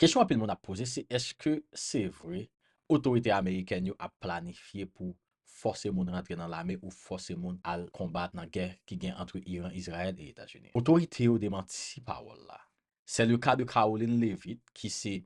Kesyon anpil moun ap poze se èske se vre otorite amerikèn yo ap planifye pou fòse moun rantre nan lame ou fòse moun al konbat nan gè ki gen antre Iran, Izrayèl e Etazini. Otorite yo demanti pawòl la. Se le ka de Karoline Leavitt ki se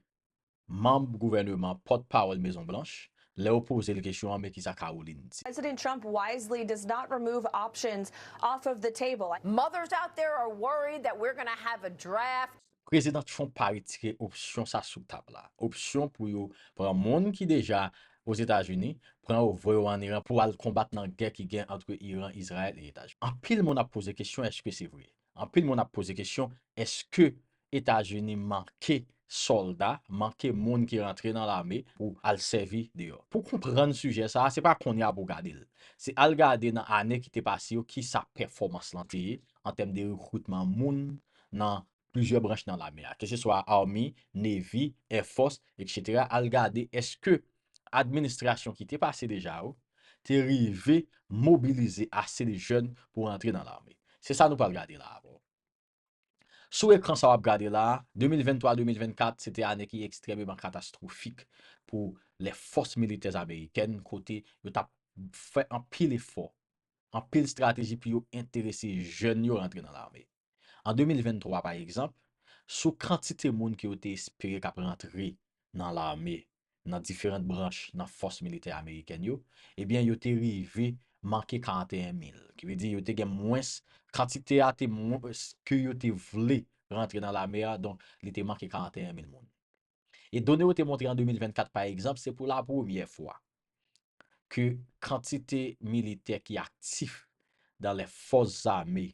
manb gouvèneman pòt pawòl Mezon Blanch lè yo poze l kesyon an men kisa Karoline di. President Trump wisely does not remove options off of the table. Mothers out there are worried that we're gonna have a draft. Prezidan Trump pa retire opsyon sa sou tab la. Opsyon pou yo pran moun ki deja Ozetazini, pran yo voye yo an Iran pou al konbat nan gè ki gen antre Iran, Izrayèl e Etazini. Anpil moun ap poze kesyon eske se vre? Anpil moun ap poze kesyon eske Etazini manke sòlda, manke moun ki rantre nan lame pou al sèvi deyò? Pou konprann sijè sa, se pa kounye a pou w gade l. Se al gade nan ane ki te pase yo kisa pèfòmans lan te ye an tèm de rekritman moun nan plizyè branch nan lame a, keseswa Army, Navy, Air Force, etc. Al gade eske administrasyon ki te pase deja yo te rive mobilize ase de jèn pou rantre nan lame. Se sa nou pral gade la avè w. Sou ekran sa w ap gade la a, 2023-2024 se te ane ki ekstrèmeman katastwofik pou lè fòs militè amerikèn kote yo t ap fè anpil efò anpil strateji pou yo enterese jèn yo rantre nan lame. An 2023, pa egzanp, sou kantite moun ke yo te espere k ap rantre nan lame nan diferant branch nan fòs militè amerikèn yo, ebyen yo te rive manke 41 mil, ki vle di yo te gen mwens, kantite a te mwens ke yo te vle rantre nan lame a, donk li te manke 41 mil moun. E done yo te montre an 2024 pa egzanp, se pou la premyè fwa ke kantite militè ki aktif dan lè fòs zame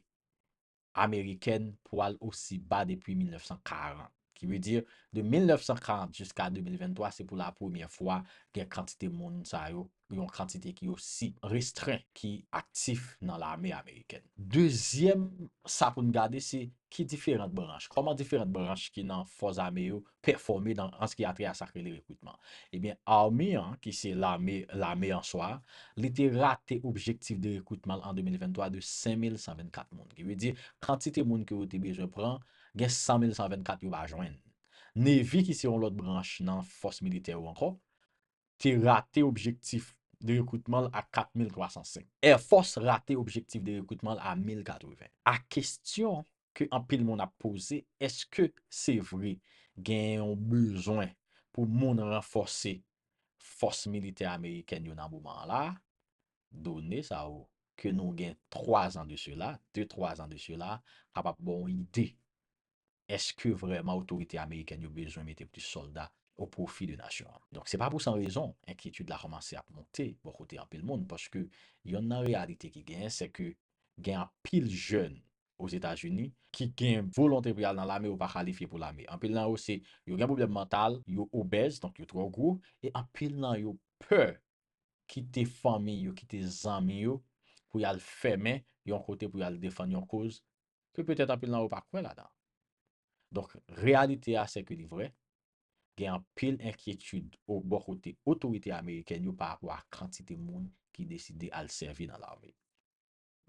amerikèn pwal osi ba depi 1940. Ki vle di, de 1940 jiska 2023, se pou la premyè fwa gen kantite moun sa yo yon kantite ki osi restren ki aktif nan lame amerikèn. Dezyèm sa pou n gade se ki diferant branch, kòman diferant branch ki nan fòs ame yo pèfòme nan an s ki atè a sa k rele rekritman. Ebyen Army an ki se lame lame an swa li te rate objektif de rekritman l an 2023 de 5124 moun. Ki vle di kantite moun ke yo te bezwen pran gen 100124 yo pa jwenn. Navy ki se yon lòt branch nan fòs militè yo ankò te rate objektif de rekritman l a 4,305. Air Force rate objektif de rekritman l a 1,080. A Kestyon ke anpil moun ap poze, eske se vre gen yon bezwen pou moun ranfòse fòs militè amerikèn yo nan moman an la a? Done sa yo ke nou gen 3 zan de sela, 2, 3 zan de sela, kapab ba w yon ide Eske vrèman otorite amerikèn yo bezwen mete plis sòlda o pwofi de nasyon an? Donk, se pa pou san rezon, enkyetid la kòmanse ap monte bò kote anpil moun, paske yonn nan reyalite ki genyen, se ke gen anpil jèn Ozetazini, ki gen volonte pou y al nan lame, yo pa kalifye pou lame. Anpil nan yo se, yo gen pwoblèm mantal, yo obèz, donk yo twò gwo, e anpil nan yo pè kite fanmi yo, kite zanmi yo, pou y al fèmen yon kote pou y al defann yon koz ke petèt anpil nan ou pa kwè ladan. Donk, reyalite a sè ke li vrè, gen anpil enkyetid ou bò kote otorite amerikèn yo pa rapò a kantite moun ki deside al sèvi nan lame.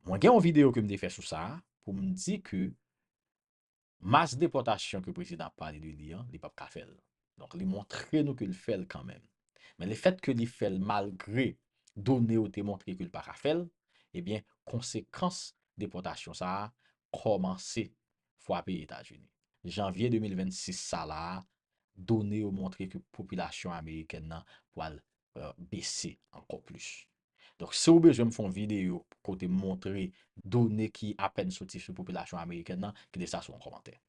Mwen gen yon videyo ke m te fè sou sa a pou m di ke mas depòtasyon ke prezidan ap pale de li an, li p ap ka fè l. Donk li montre nou ke l fè l kanmenm. Men lefèt ke li fè l malgre done yo te montre ke l pa ka fè l, ebyen konsekans depòtasyon sa a kòmanse fwape Etazini. Janvye 2026 sa la a, done yo montre ke popilasyon amerikèn nan pwal bese ankò plis. Donk si w bezwen m fè yon videyo kote m montre done ki apèn soti sou popilasyon amerikèn nan, kite sa sou yon kòmantè.